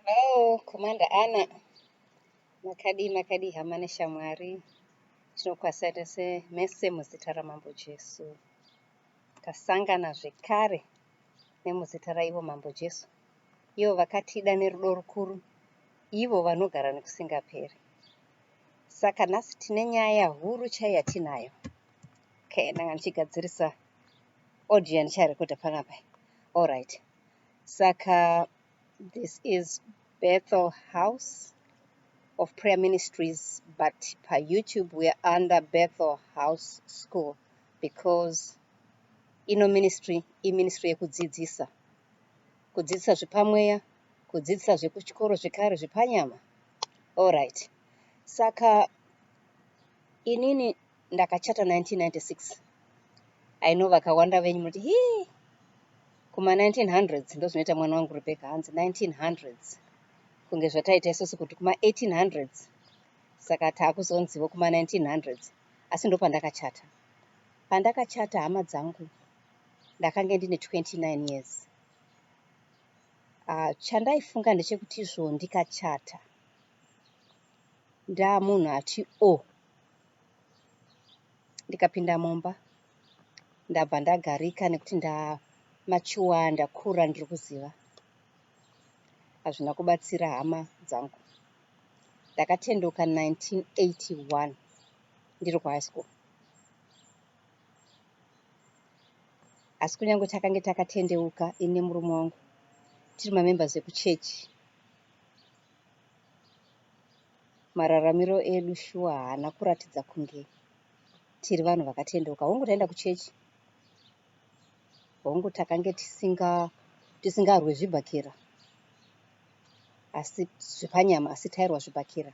Hello, Commander Anna. Makadii, makadii hama neshamwari. Tinokwasa tese mese muzita raMambo Jesu. Tasangana zvekare nemuzita raivo Mambo Jesu. Ivo vakatida nerudo rukuru, ivo vanogara nekusingaperi. Saka nhasi tine nyaya huru chaiya tinayo. Okay, ndanga ndichigadzirisa audio yandicharekodha panapa allright saka this is bethel house of prayer ministries but payoutube weare under bethel house school because ino ministry iministry yekudzidzisa kudzidzisa zvepamweya kudzidzisa zvekuchikoro zvekare zvepanyama allright saka inini ndakachata 1996 i know vakawanda venyu muti hii kuma 1900s ndozvinoita mwana wangu rebecca hanzi 1900s kunge zvataita isusu kuti kuma 1800s saka taakuzonzivo kuma 1900s asi ndopandakachata pandakachata hama dzangu ndakange ndine 29 years uh, chandaifunga ndechekuti izvo ndikachata ndaamunhu ati o oh, ndikapinda mumba ndabva ndagarika nekuti ndamachuwa ndakura ndiri kuziva hazvina kubatsira hama dzangu ndakatenduka 1981 ndiri kuhigh school asi kunyange takange takatendeuka ini nemurume wangu tiri mamembers ekuchechi mararamiro edu shuwa haana kuratidza kunge tiri vanhu vakatendeuka hongu taenda kuchechi hongu takange tisinga tisingarwe zvibhakera asi zvepanyama asi tairwa zvibhakera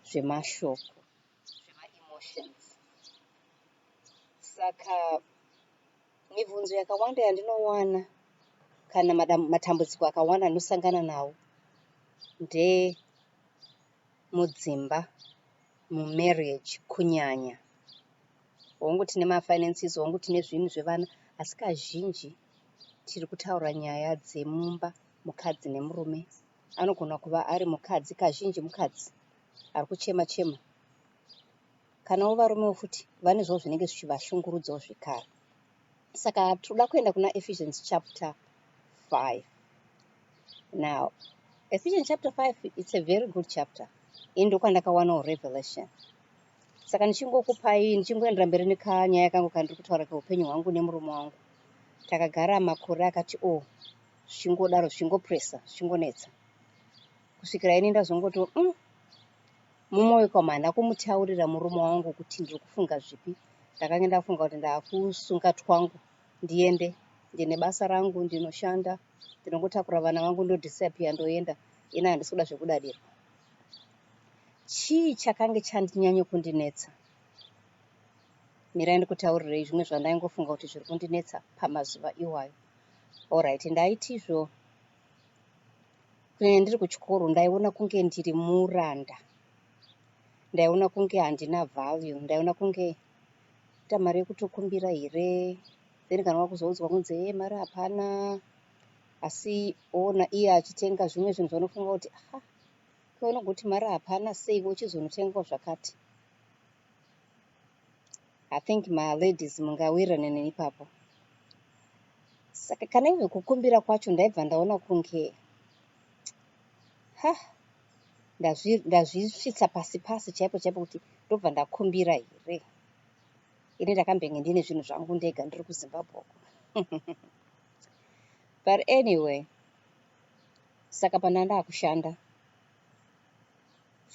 zvemashoko zvemaemotions saka Mibvunzo yakawanda yandinowana kana matambudziko akawanda anosangana nawo ndemudzimba mumarriage kunyanya hongu tine mafinances hongu tine zvinhu zvevana asi kazhinji tiri kutaura nyaya dzemumba mukadzi nemurume anogona kuva ari mukadzi kazhinji mukadzi ari kuchema chema Kanawo varumewo futi vanezvawo zvinenge zvichivashungurudzawo zvekare. Saka tinoda kuenda kuna Ephesians chapter 5. Now, Ephesians chapter 5 it's a very good chapter. Ini ndokwandakawanawo revelation. Saka ndichingokupai ndichingoendera mberi nekanyaya kangu kandiri kutaura keupenyu hwangu nemurume wangu. Takagara makore akati o oh, zvichingodaro zvichingopressa zvichingonetsa kusvikira ini ndazongotiwo mm, Mumwe wekwamu handina kumutaurira murume wangu kuti ndiri kufunga zvipi. Ndakange ndafunga kuti ndakusunga twangu ndiende. Ndine basa rangu ndinoshanda. Ndinongotakura vana vangu ndodisappear ndoenda. Ini handisi kuda zvekudadirwa. Chii chakange chandinyanya kundinetsa? Mirai ndikutaurirei zvimwe zvandaingofunga kuti zviri kundinetsa pamazuva iwayo. Alright, ndaitizvo Kunyanya ndiri kuchikoro ndaiona kunge ndiri muranda, ndaiona kunge handina value, ndaiona kunge ita mari yekutokumbira here then kana wakuzoudzwa kunzi hee mari hapana asi ona iye achitenga zvimwe zvinhu zvanofunga kuti aha kweunogoti mari hapana sei uchizonotengawo zvakati I think ma ladies mungawirirane neni ipapo. Saka kana ive kukumbira kwacho ndaibva ndaona kunge ha ndazvisvitsa pasi pasi chaipo chaipo kuti ndobva ndakumbira here. Ini ndakambenge ndine zvinhu zvangu ndega ndiri kuZimbabwe uko. But anyway, saka pandanga ndakushanda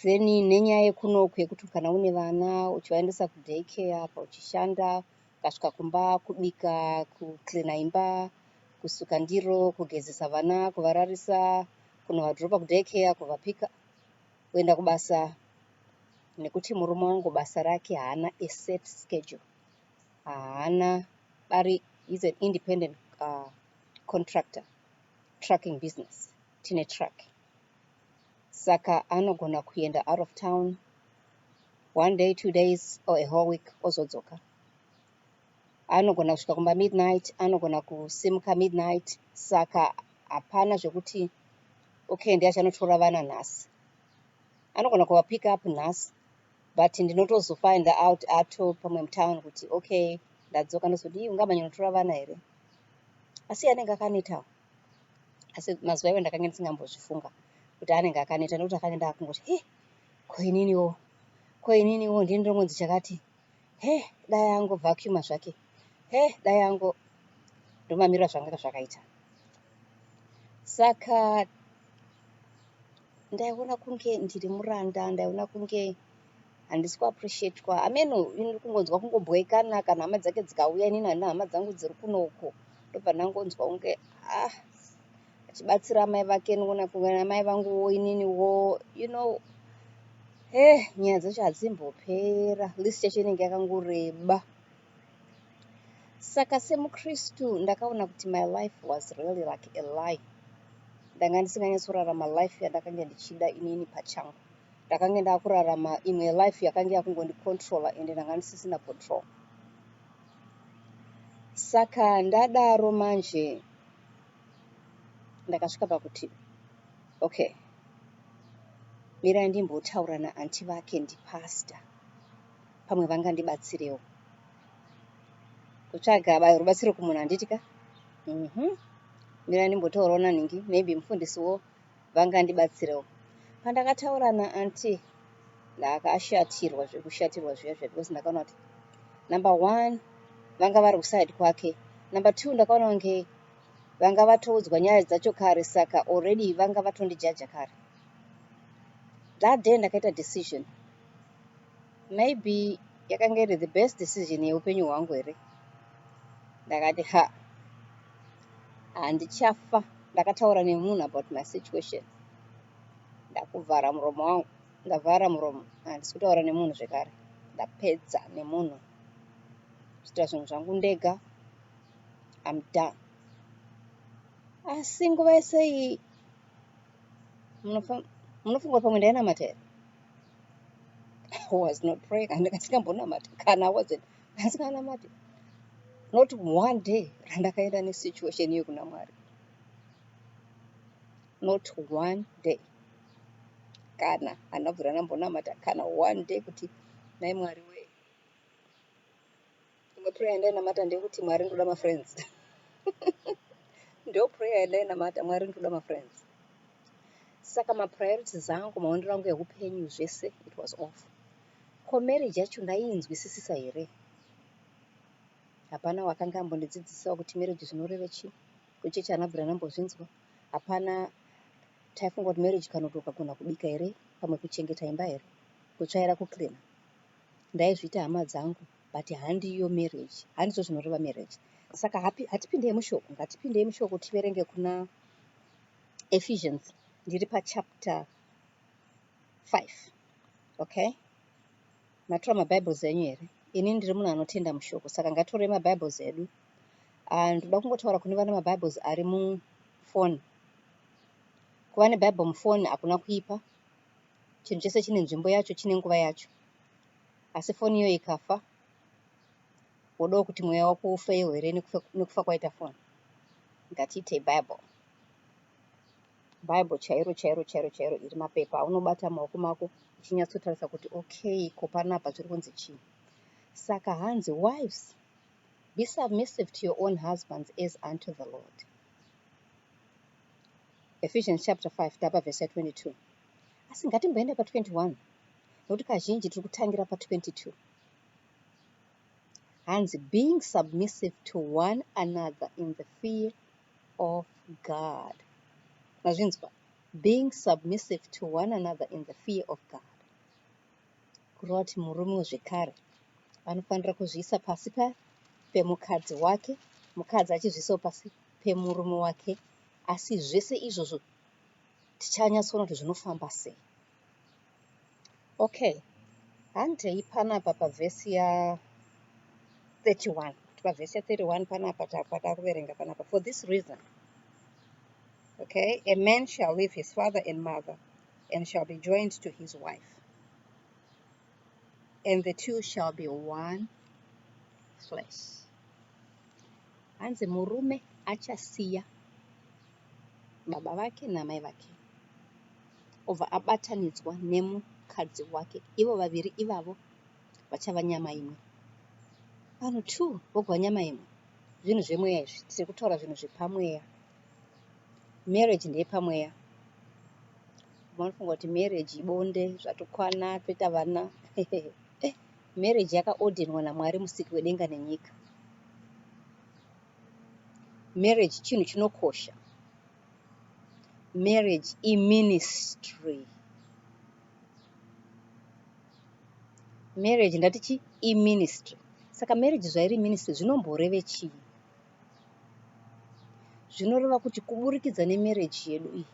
then nenyaya yekunoku yekuti kana une vana uchivaendesa kuday care apa uchishanda ukasvika kumba kubika kucleana imba kusuka ndiro kugezesa vana kuvararisa kunovadropa kuday care kuvapika kuenda kubasa nekuti murume wangu basa rake haana aset schedule haana bari is an independent uh, contractor trucking business tine truck saka anogona kuenda out of town one day two days or a whole week ozodzoka anogona kusvika kumba midnight anogona kusimuka midnight saka hapana zvekuti okay ndiye achanotora vana nhasi anogona kuva pick up nhasi but ndinotozofind out ato pamwe mutown kuti okay ndadzoka ndozodii ungamanyanotora vana here asi anenge akanetawo asi mazuva iwo ndakange ndisingambozvifunga kuti anenge akaneta nekuti akange ndakungoti he ko ininiwo ko ininiwo ndini ndomonzi chakati he dai ango vacuuma zvake he dai ango ndomamirira zvanga zvakaita saka ndaiona kunge ndiri muranda ndaiona kunge handisi kuappreciatwa ameno ini ri kungonzwa kungobhoikana kana hama dzake dzikauya inini handina hama dzangu dziri kuno uko ndobva ndangonzwa kunge ah achibatsira amai vake nona kungana amai vangu wo inini wo you know he eh, nyaya dzacho hadzimbopera list yacho inenge yakangoreba saka semukristu ndakaona kuti my life was really like a lie ndanga ndisinganyatsorarama life yandakange ndichida inini pachangu ndakange ndakurarama imwe life yakange yakungondicontrola ende ndanga ndisisina control saka ndadaro manje ndakasvika pakuti okay mirai ndimbotaura naanti vake ndipasta pamwe vanga ndibatsirewo kutsvaga bayo rubatsiro kumunhu handiti ka mm -hmm. mirai ndimbotaurawo nanhingi maybe mufundisiwo vangandibatsirewo pandakataura naanti ndaakashatirwa zvekushatirwa zviya zviya because ndakaona kuti number one vanga vari kuside kwake number two ndakaona kunge vanga vatoudzwa nyaya dzacho kare saka already vanga vatondijaja kare that day ndakaita decision maybe yakanga iri the best decision yeupenyu hwangu here ndakati ha handichafa ndakataura nemunhu about my situation ndakuvhara muromo wangu ndavhara muromo handisi kutaura nemunhu zvekare ndapedza nemunhu zviita zvinhu zvangu ndega am done asi nguva yese iyi munofunga pamwe ndainamata here I was not praying and ndikasingambonamati kana I wasn't asikanamati not one day randakaenda nesituation iyo kuna mwari not one day kana handabvira ndambonamata kana one day kuti nai mwari wee Imwe prayer yandainamata ndeyekuti Mwari ndoda mafriends. Ndo prayer yandainamata Mwari ndoda mafriends. Saka mapriorities angu maonero angu ehupenyu zvese it was off. Ko marriage yacho ndaiinzwisisisa here? Hapana wakanga ambondidzidzisawo kuti marriage zvinoreve chii. Kuchechi anabvira nambozvinzwa. Hapana taifunga kuti marriage kana kuti ukagona kubika here pamwe kuchengeta imba here kutsvaira kucleaner ndaizviita hama dzangu but handiyo marriage handizvo zvinoreva marriage saka hapi hatipindei mushoko ngatipindei mushoko tiverenge kuna ephesians ndiri pachapter 5 okay matora mabibles enyu here ini ndiri munhu anotenda mushoko saka ngatorei mabibles edu ah, ndoda kungotaura kune vane mabibles ari mufoni kuva nebible mufoni hakuna kuipa chinhu chese chine nzvimbo yacho chine nguva yacho asi foni iyo ikafa wodawo kuti mweya wako ufeyo here nekufa kwaita foni ngatiite bible bible chairo chairo chairo chairo iri mapepa aunobata maoko mako uchinyatsotarisa kuti okay ko panapa zviri kunzi chii saka hanzi wives be submissive to your own husbands as unto the lord ephesians chapter 5 tapa verse 22 asi ngatimboenda pa 21 nokuti kazhinji tiri kutangira pa 22 hanzi being submissive to one another in the fear of god mazvinzwa being submissive to one another in the fear of god kureva kuti murume wezvekare anofanira kuzviisa pasi pa pemukadzi wake mukadzi achizviisawo pasi pemurume wake asi zvese izvozvo tichanyatsoona kuti zvinofamba sei okay handei panapa pavhesi ya 31 kuti pavhesi ya 31 panapa patakuverenga panapa for this reason okay a man shall leave his father and mother and shall be joined to his wife and the two shall be one flesh hanzi murume achasiya baba vake namai vake obva abatanidzwa nemukadzi wake ivo vaviri ivavo vachava nyama imwe vanhu two vogova nyama imwe zvinhu zvemweya izvi tiri kutaura zvinhu zvepamweya Marriage ndeyepamweya. Vamwe vanofunga kuti marriage ibonde zvatokwana toita vana. Marriage yakaodhenwa naMwari musiki wedenga nenyika. Marriage chinhu chinokosha. Marriage iministry. Marriage ndatichi iministry. Saka marriage zvairi ministry zvinomboreve chii? zvinoreva kuti kuburikidza nemarriage yedu iyi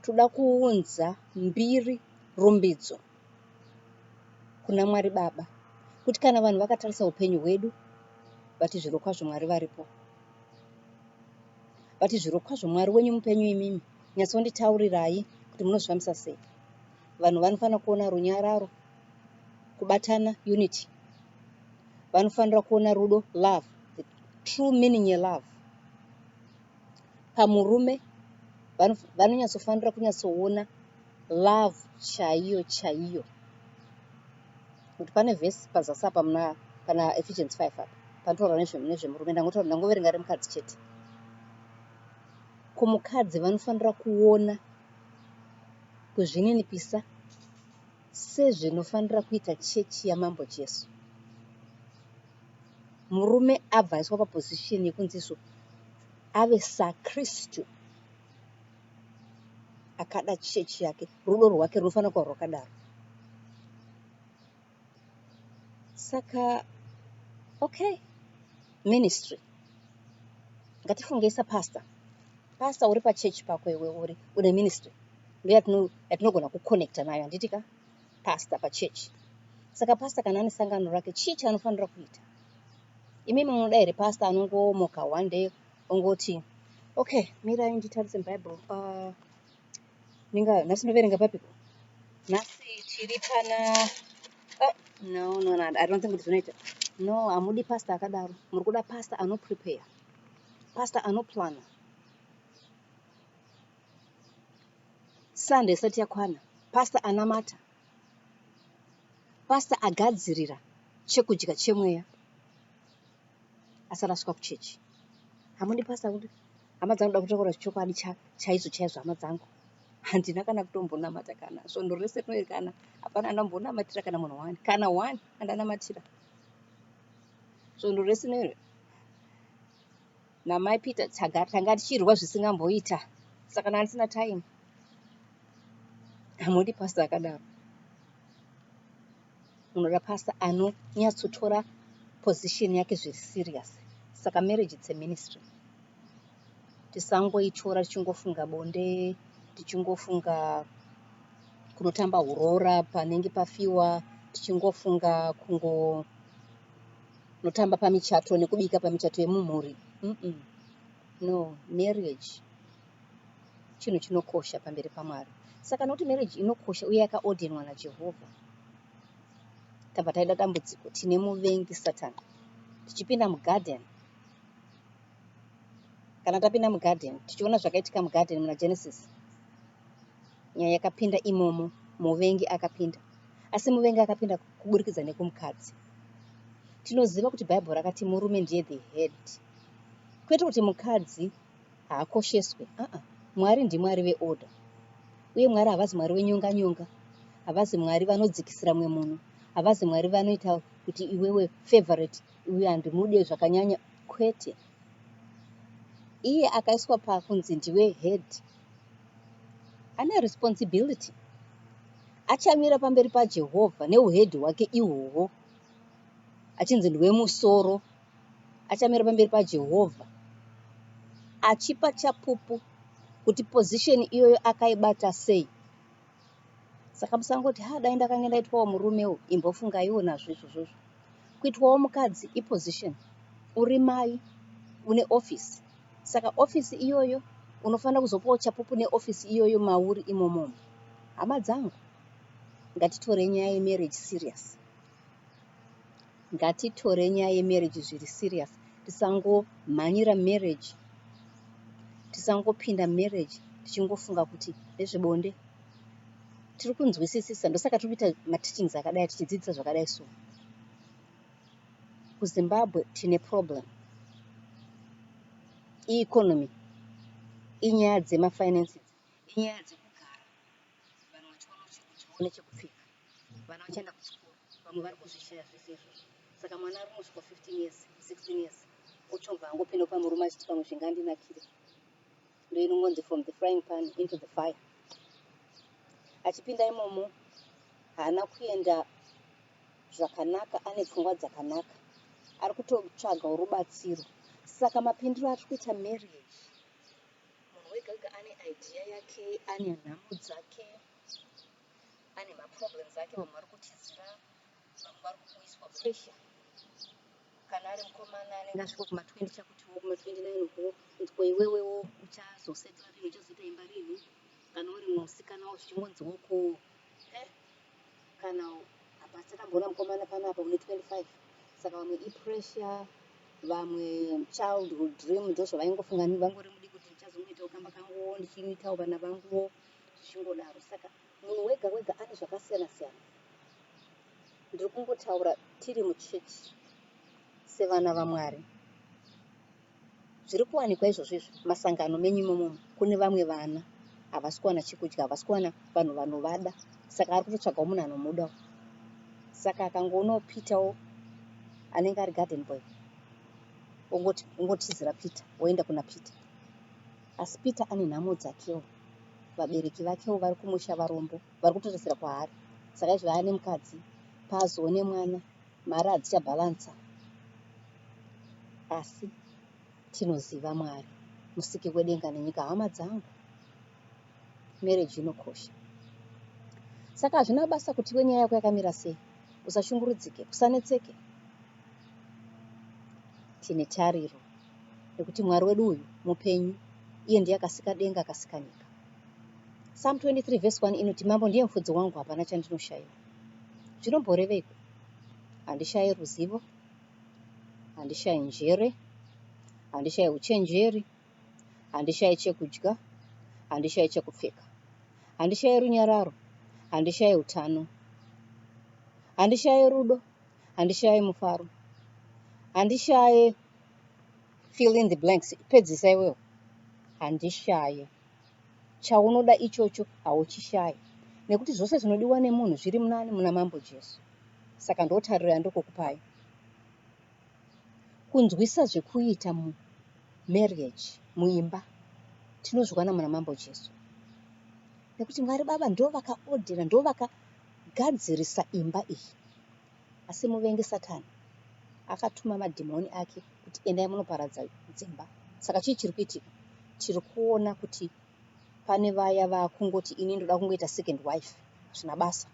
toda kuunza mbiri rumbidzo kuna Mwari Baba kuti kana vanhu vakatarisa upenyu hwedu vati zvirokwazvo Mwari varipo vati zvirokwazvo Mwari wenyu mupenyu imimi nyatsonditaurirai kuti munozvifambisa sei vanhu vanofanira kuona runyararo kubatana unity vanofanira kuona rudo love the true meaning yelove pamurume vanonyatsofanira kunyatsoona love chaiyo chaiyo kuti pane vhesi pazasi apa muna pana ephesians 5 apa panotaura nezvemurume ndangotaura ndangoverenga remukadzi chete kumukadzi vanofanira kuona kuzvininipisa Sezvinofanira kuita chechi yaMambo Jesu, murume abva aiswa paposition yekunziso ave saKristu akada chechi yake, rudo rwake runofanira kuva rwakadaro. Saka okay, ministry ngatifungei sapastor. Pastor uri pachurch pako iwe uri une ministry ndo yatinogona kuconnecta nayo handiti ka pastor pachurch saka pastor kana ane sangano rake chii chaanofanira kuita imimi munoda here pastor anongomoka one day ongoti okay mirai nditarise bible uh, ninga nhasi ndoverenga papiko nhasi tiri pana oh, no no no i don't think kuti zvinoita no hamudi pastor akadaro muri kuda pastor anoprepare Pastor anoplana Sunday isati yakwana, pastor anamata, pastor agadzirira chekudya chemweya asati asvika kuchechi. Hamundi pastor kuti hama dzangu da kutaura chokwadi chaizvo chaizvo hama dzangu handina kana kutombonamata kana svondo rese rinoerekana hapana andambonamatira kana munhu wani kana wani andanamatira Svondo rese nero namai Peter tanga tichirwa zvisingamboita saka kana ndisina time hamundi pastor akadaro munoda pastor anonyatsotora position yake zviri serious saka marriage its a ministry tisangoityora tichingofunga bonde tichingofunga kunotamba huroora panenge pafiwa tichingofunga kungonotamba pamichato nekubika pamichato yemumhuri mm -mm. no marriage chinhu chinokosha pamberi pamwari saka nokuti marriage inokosha uye yakaodhenwa najehovha tabva taida dambudziko tine muvengi satani tichipinda mugarden kana tapinda mugarden tichiona zvakaitika mugarden muna genesis nyaya yakapinda imomo muvengi akapinda asi muvengi akapinda kuburikidza nekumukadzi tinoziva kuti bhaibheri rakati murume ndiye the head kwete kuti mukadzi haakosheswe aa mwari ndimwari veorder uye mwari havazi mwari wenyonga nyonga havazi mwari vanodzikisira mumwe munhu havazi mwari vanoita kuti iwewe favorite uyu handimude zvakanyanya kwete iye akaiswa pakunzi ndiwe head ane responsibility achamira pamberi pajehovha neuhedhi hwake ihwohwo achinzi ndiwe musoro achamira pamberi pajehovha achipa chapupu kuti pozisheni iyoyo akaibata sei saka musangoti ha dai ndakange ndaitwawo murume uyu imbofungaiwo nazvo izvozvozvo kuitwawo mukadzi iposition uri mai une office saka office iyoyo unofanira kuzopawo chapupu neoffice iyoyo mauri imomomo hama dzangu ngatitorei nyaya yemarriage serious ngatitore nyaya yemarriage zviri serious tisangomhanyira marriage tisangopinda marriage tichingofunga kuti ndezvebonde tiri kunzwisisisa ndosaka tiri kuita mateachings akadai tichidzidzisa zvakadai so kuzimbabwe tine problem ieconomy inyaya dzemafinances inyaya dzekugara vanhu vachiona chekuti vaone chekupfeka Vana vachaenda kuchikoro vamwe vari kuzvishaya zvese izvozvo saka mwana ari musviko 15 years 16 years ochobva angopinda pamurume achiti pamwe zvingandinakire ndoinongonzi from the frying pan into the fire achipinda imomo haana kuenda zvakanaka ane pfungwa dzakanaka ari kutotsvaga rubatsiro saka mapindiro atiri kuita marriage munhu wega wega ane idea yake ane nhamo dzake ane ma problems ake vamwe vari kutizira vamwe vari kuiswa pressure kana ari mukomana anenge asvika kuma 20 chakutiwo kuma 29 uko ndiko iwewewo uchazosetla rini uchazoita imba rini kana uri musikanawo zvichingonziwo ko eh, kana apa takamboona mukomana pano apa une 25 saka vamwe ipressure vamwe childhood dream ndozvavaingofunga vangori mudiki kuti ndichazongoitawo kamba kanguwo ndichiitawo vana vanguwo zvichingodaro saka munhu wega wega ane zvakasiyana siyana ndiri kungotaura tiri muchechi sevana vamwari zviri kuwanikwa izvozvo izvo masangano menyu imomomo kune vamwe vana havasi kuwana chekudya havasi kuwana vanhu vanovada saka ari kutotsvagawo munhu anomudawo saka akangoonawo peterwo anenge ari garden boy ongotizira peter woenda kuna peter asi peter ane nhamo dzakewo vabereki vakewo vari kumusha varombo vari kutoresera kwaari saka izvi vaya nemukadzi paazoone mwana mari hadzichabhalansa asi tinoziva mwari musiki wedenga nenyika hama dzangu mereji inokosha saka hazvina basa kuti iwe nyaya yako yakamira sei usashungurudzike usanetseke tine tariro nekuti mwari wedu uyu mupenyu iye ndiye akasika denga akasika nyika psalm 23 vhesi 1 inoti mambo ndiye mufudzi wangu hapana chandinoshaiwa zvinomboreveiko handishaye ruzivo handishaye njere handishaye uchenjeri handishaye chekudya handishaye chekupfeka handishaye runyararo handishaye utano handishaye rudo handishaye mufaro handishaye fill in the blanks pedzisa iwewo handishaye chaunoda ichocho hauchishaye nekuti zvose zvinodiwa nemunhu zviri munani muna mambo jesu saka ndotariro yandokokupai kunzwisa zvekuita mumarriage muimba tinozviwana muna mambo jesu nekuti mwari baba ndovakaodhera ndovaka Gadzirisa imba iyi. Asi muvengi Satani akatuma madhimoni ake kuti endai munoparadza dzimba. Saka chii chiri kuitika? Tiri kuona kuti pane vaya vakungoti ini ndoda kungoita second wife, hazvina basa.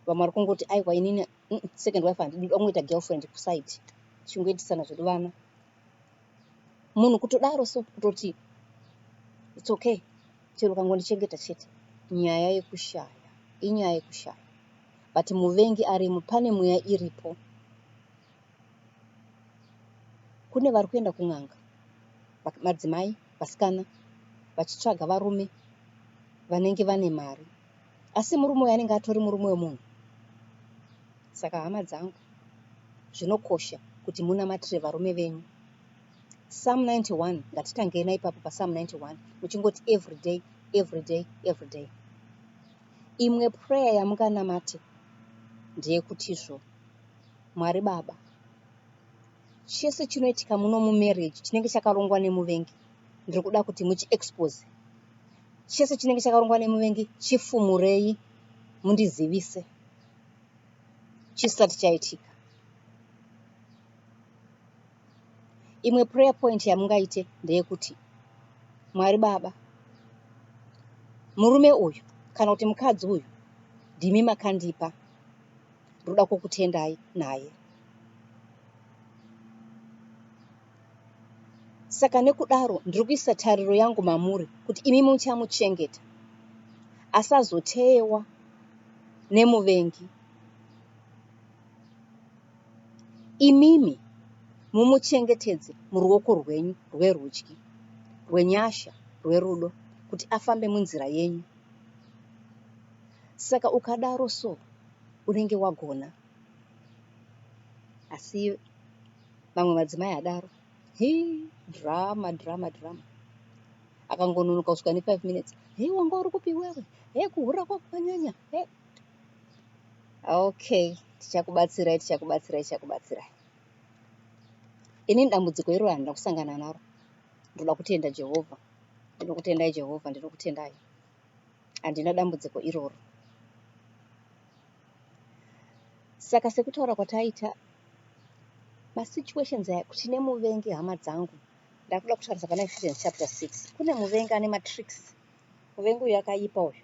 Vamwe vari kungoti aiwa inini mm, second wife handidi, ndoda kungoita girlfriend kuside, tichingoitisana zvedu vana. Munhu kutodaro so kutoti it's okay, Chero ukangondichengeta chete. Nyaya yekushaya inyaya yekushaya but muvengi arimo pane mweya iripo. Kune vari kuenda kun'anga madzimai vasikana vachitsvaga varume vanenge vane mari asi murume uyo anenge atori murume wemunhu. Saka hama dzangu zvinokosha kuti munamatire varume venyu. Psalm 91 ngatitangei naipapo paPsalm 91 muchingoti everyday everyday everyday. Imwe prayer yamunganamate ndeyekutizvo Mwari Baba chese chinoitika muno mumarriage chinenge chakarongwa nemuvengi ndiri kuda kuti muchiexpose chese chinenge chakarongwa nemuvengi chifumurei mundizivise chisati chaitika imwe prayer point yamungaite ndeyekuti mwari baba murume uyu kana kuti mukadzi uyu ndimi makandipa ndoda kukutendai naye saka nekudaro ndiri kuisa tariro yangu mamuri kuti imi muchamuchengeta asazoteyewa nemuvengi Imimi mumuchengetedze muruoko rwenyu rwerudyi rwenyasha, rwerudo, kuti afambe munzira yenyu. Saka ukadaro so unenge wagona. Asi vamwe madzimai adaro. Hii, drama, drama, drama. Akangononoka kusvika ne 5 minutes. Hei wanga uri kupi iwewe? Hei kuhura kwako kwanyanya. Hei. okay tichakubatsirai tichakubatsirai tichakubatsirai inini dambudziko iroro handina kusangana naro ndoda kutenda jehovha ndinokutendai jehovha ndinokutendai handina dambudziko iroro saka sekutaura kwataita masituations aya kuti nemuvengi hama dzangu ndakuda kutaurisa pana ephesians chapter 6 kune muvengi ane matricks muvengi uyu akaipa uyu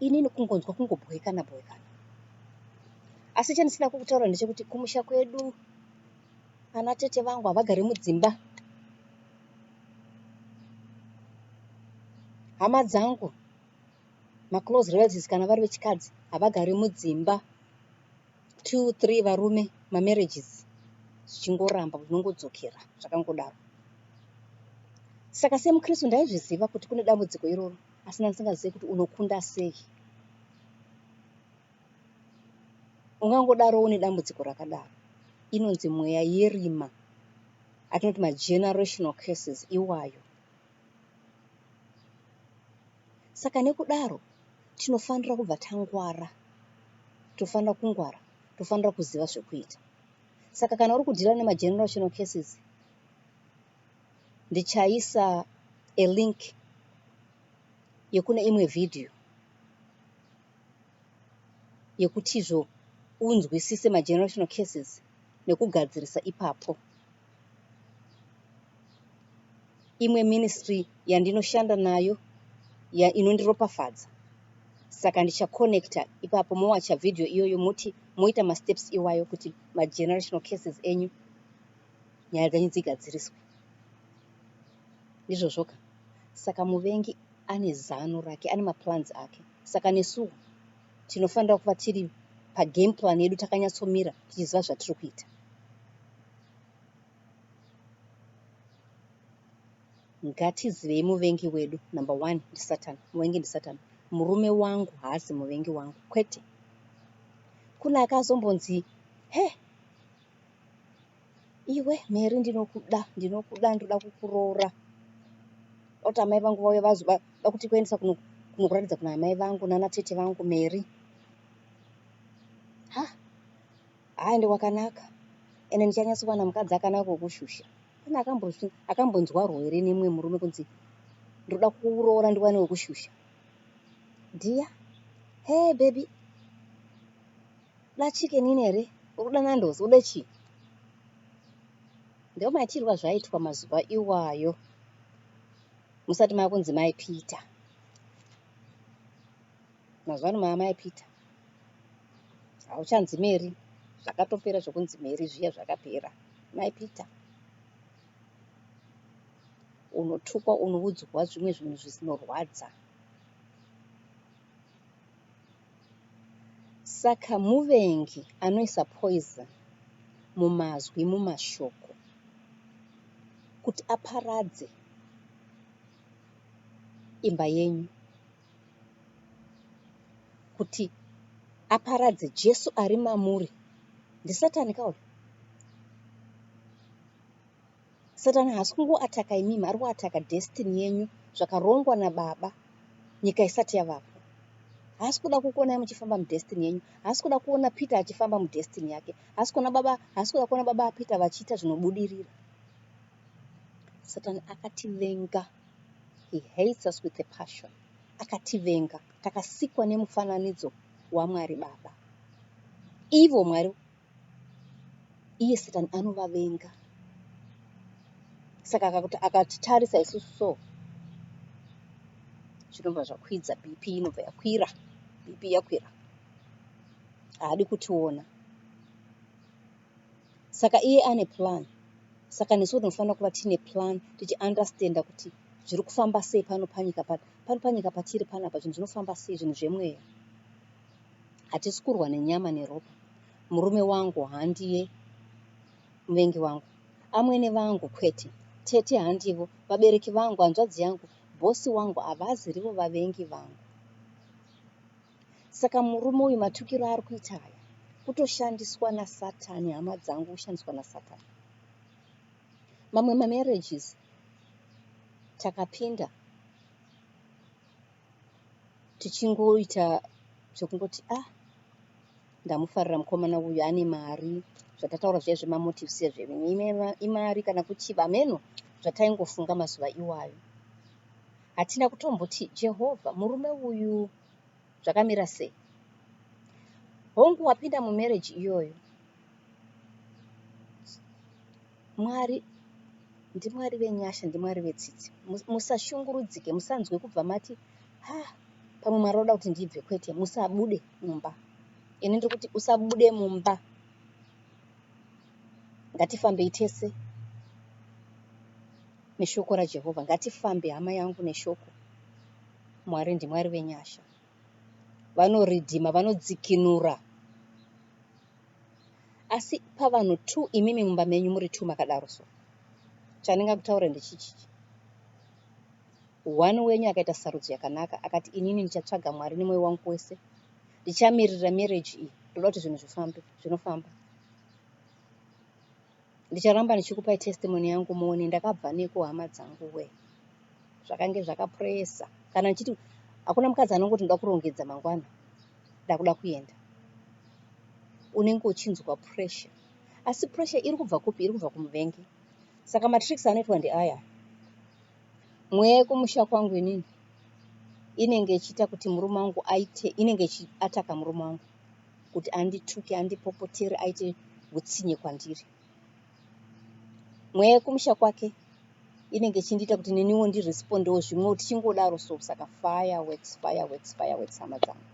inini kungonzwa kungobhoekana bhoekana asi chandisina kukutaura ndechekuti kumusha kwedu ana tete vangu havagari mudzimba hama dzangu maclose relatives kana vari vechikadzi havagari mudzimba two three varume mamarriages zvichingoramba zvinongodzokera zvakangodaro saka semukristu ndaizviziva kuti kune dambudziko iroro asi ndanga ndisingazive kuti unokunda sei ungangodaro une dambudziko rakadaro inonzi mweya yerima atinoti magenerational curses iwayo saka nekudaro tinofanira kubva tangwara tofanira kungwara tofanira kuziva zvekuita saka kana uri kudhira nemagenerational cases ndichaisa a link yekune imwe video yekutizvo unzwisise magenerational cases nekugadzirisa ipapo imwe ministry yandinoshanda nayo ya inondiropafadza saka ndichaconnecta ipapo mowacha video iyoyo moti moita masteps iwayo kuti magenerational cases enyu nyaya dzenyu dzigadziriswe. Ndizvozvoka. Saka muvengi ane zano rake, ane maplans ake. Saka nesuwo tinofanira kuva tiri pagame plan yedu takanyatsomira tichiziva zvatiri kuita. Ngatizivei muvengi wedu. Number one ndisatan, muvengi ndisatan. Murume wangu haasi muvengi wangu, kwete. Kune akazombonzi, he, iwe mheri ndinokuda ndinokuda ndinoda kukuroora oti amai vangu vauya vazoda kuti kuendesa kunokuratidza kuna amai vangu nana tete vangu mheri ha haaende kwakanaka ende ndichanyatsowana mukadzi akanaka wekushusha pane akambonzwarwo here nemumwe murume kunzi ndoda kuroora ndiwane wekushusha dhiya hey baby Unoda chicken ini here? Urikuda nandos? Ude chii? Ndiwo maitirwa zvaiitwa mazuva iwayo musati makunzi mai Peter. Mazuva ano maamai Peter hauchanzi Mary, zvakatopera zvokunzi Mary zviya zvakapera. Mai Peter unotukwa, unoudzwa zvimwe zvinhu zvinorwadza. Saka muvengi anoisa poison mumazwi, mumashoko kuti aparadze imba yenyu, kuti aparadze Jesu ari mamuri. NdiSatani ka uyo? Satan haasi kungoataka imimi ari kuataka destiny yenyu zvakarongwa nababa nyika isati yavapo. Haasi kuda kukuonai muchifamba mudestiny yenyu. Haasi kuda kuona Peter achifamba mudestiny yake. Haasi kuona baba, haasi kuda kuona baba Peter vachiita zvinobudirira. Satan akativenga. He hates us with a passion. Akativenga. Takasikwa nemufananidzo waMwari Baba. Ivo Mwari iye satani anovavenga saka akakuti akatitarisa isusu so zvinobva zvakwidza bp inobva yakwira bp yakwira haadi kutiona saka iye ane plan saka nesu tinofanira kuva tiine plan tichiunderstanda kuti zviri kufamba sei pano panyika pano pano panyika patiri panapa zvinhu zvinofamba sei zvinhu zvemweya Hatisi kurwa nenyama neropa. Murume wangu handiye muvengi wangu. Amwene vangu kwete. Tete handivo, vabereki vangu, hanzvadzi yangu, bhosi wangu havazi rivo vavengi vangu. Saka murume uyu matukiro ari kuita aya kutoshandiswa nasatani hama dzangu kushandiswa nasatani. Mamwe mamarriages takapinda tichingoita zvekungoti ah ndamufarira mukomana uyu ane mari zvatataura zviya zvemamotives ezvevenyu imari kana kuchiva hameno zvataingofunga mazuva iwayo hatina kutomboti jehovha murume uyu zvakamira sei hongu wapinda mumarriage iyoyo Mwari ndiMwari venyasha ndiMwari vetsitsi musashungurudzike musanzwe kubva mati ha pamwe Mwari oda kuti ndibve kwete musabude mumba ini ndiri kuti usabude mumba ngatifambei tese neshoko raJehovha ngatifambe hama yangu neshoko Mwari ndiMwari venyasha vanoridhima vanodzikinura asi pavanhu two imimi mumba menyu muri two makadaro so chandingakutaura ndechichichi one wenyu akaita sarudzo yakanaka akati inini ndichatsvaga mwari nemwoyo wangu wese ndichamiririra marriage iyi ndoda kuti zvinhu zvifambe zvinofamba ndicharamba ndichikupai testimony yangu muone ndakabva neko hama dzangu we zvakange zvakapresa kana ndichiti hakuna mukadzi anongoti ndoda kurongedza mangwana ndakuda kuenda unenge uchinzwa pressure asi pressure iri kubva kupi iri kubva kumuvengi saka matricks anoitwa ndeaya mweya yekumusha kwangu inini inenge ichiita kuti murume wangu aite inenge ichiataka murume wangu kuti andituke andipopotere aite hutsinye kwandiri mweya yekumusha kwake inenge ichindiita kuti neniwo ndirespondewo zvimwewo tichingodaro so saka fireworks fireworks fireworks hama dzangu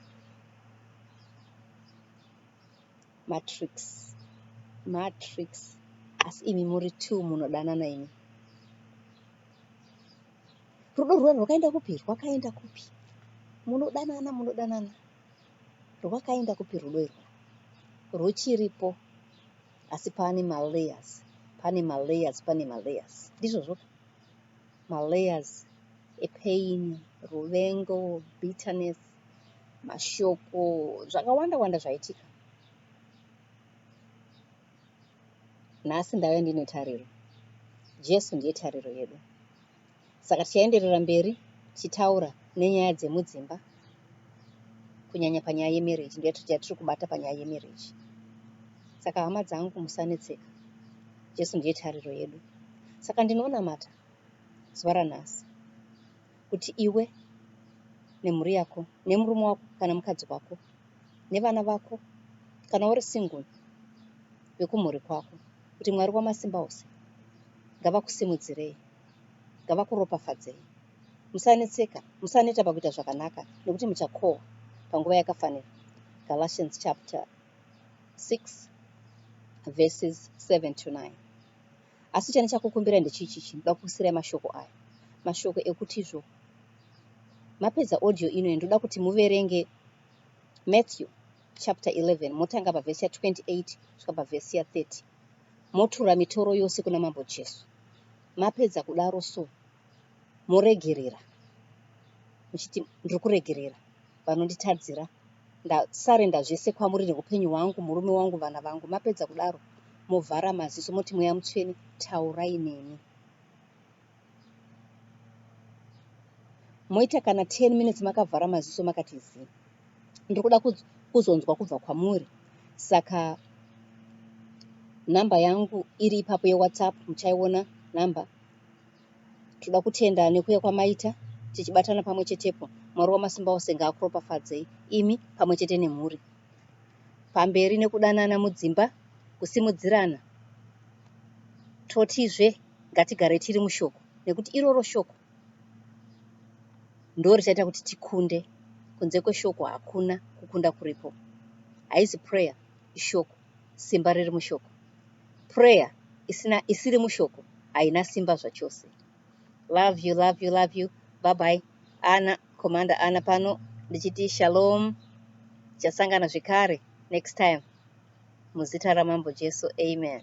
matrix matrix asi imi muri two munodanana imi rudo rwuya rwakaenda kupi rwakaenda kupi munodanana munodanana Rwakaenda kupi rudo irwo? Rwuchiripo asi pane ma layers, pane ma layers, pane ma layers. Ndizvozvo ka? Ma layers e pain, ruvengo, bitterness, mashoko, zvakawanda wanda zvaitika. Nhasi ndave ndine tariro. Jesu ndiye tariro yedu. Saka tichaenderera mberi tichitaura nenyaya dzemudzimba kunyanya panyaya yemarriage ndiyo yatiri kubata panyaya yemarriage. Saka hama dzangu musanetseka, Jesu ndiye tariro yedu. Saka ndinonamata zuva ranhasi kuti iwe nemhuri yako nemurume wako kana mukadzi wako nevana vako kana uri single vekumhuri kwako kuti Mwari wamasimba ose ngavakusimudzirei. ngavakuropafadzei. Musanetseka, musaneta pakuita zvakanaka, nekuti muchakohwa panguva yakafanira. Galatians chapter 6 verses 7 to 9. Asi chani chakukumbira ndechichichi, ndoda kukusirai mashoko aya, mashoko ekutizvo mapedza audio ino ndoda kuti muverenge Matthew chapter 11 motanga pavhesi ya 28 kusvika pavhesi ya 30. motura mitoro yose kuna Mambo Jesu. Mapedza kudaro so moregerera muchiti ndiri kuregerera vanonditadzira ndasarenda zvese kwamuri neupenyu hwangu murume wangu vana vangu mapedza kudaro movhara maziso moti mweya mutsvene taurai neni moita kana 10 minutes makavhara maziso makati zii ndiri kuda kuzonzwa kubva kwamuri saka nhamba yangu iri ipapo yewhatsapp muchaiona nhamba tinoda kutenda nekuya kwamaita tichibatana pamwe chetepo mwari wamasimba ose ngaakuropafadzei imi pamwe chete nemhuri pamberi nekudanana mudzimba kusimudzirana totizve Ngatigare tiri mushoko nekuti iroro shoko ndo richaita kuti tikunde. Kunze kweshoko hakuna kukunda kuripo. Haizi prayer ishoko. Simba riri mushoko. Prayer isina isiri mushoko haina simba zvachose. Love you, love you, love you. Bye bye. Ana Commander Ana pano ndichiti shalom. Tichasangana zvekare next time. Muzita raMambo Jesu. Amen.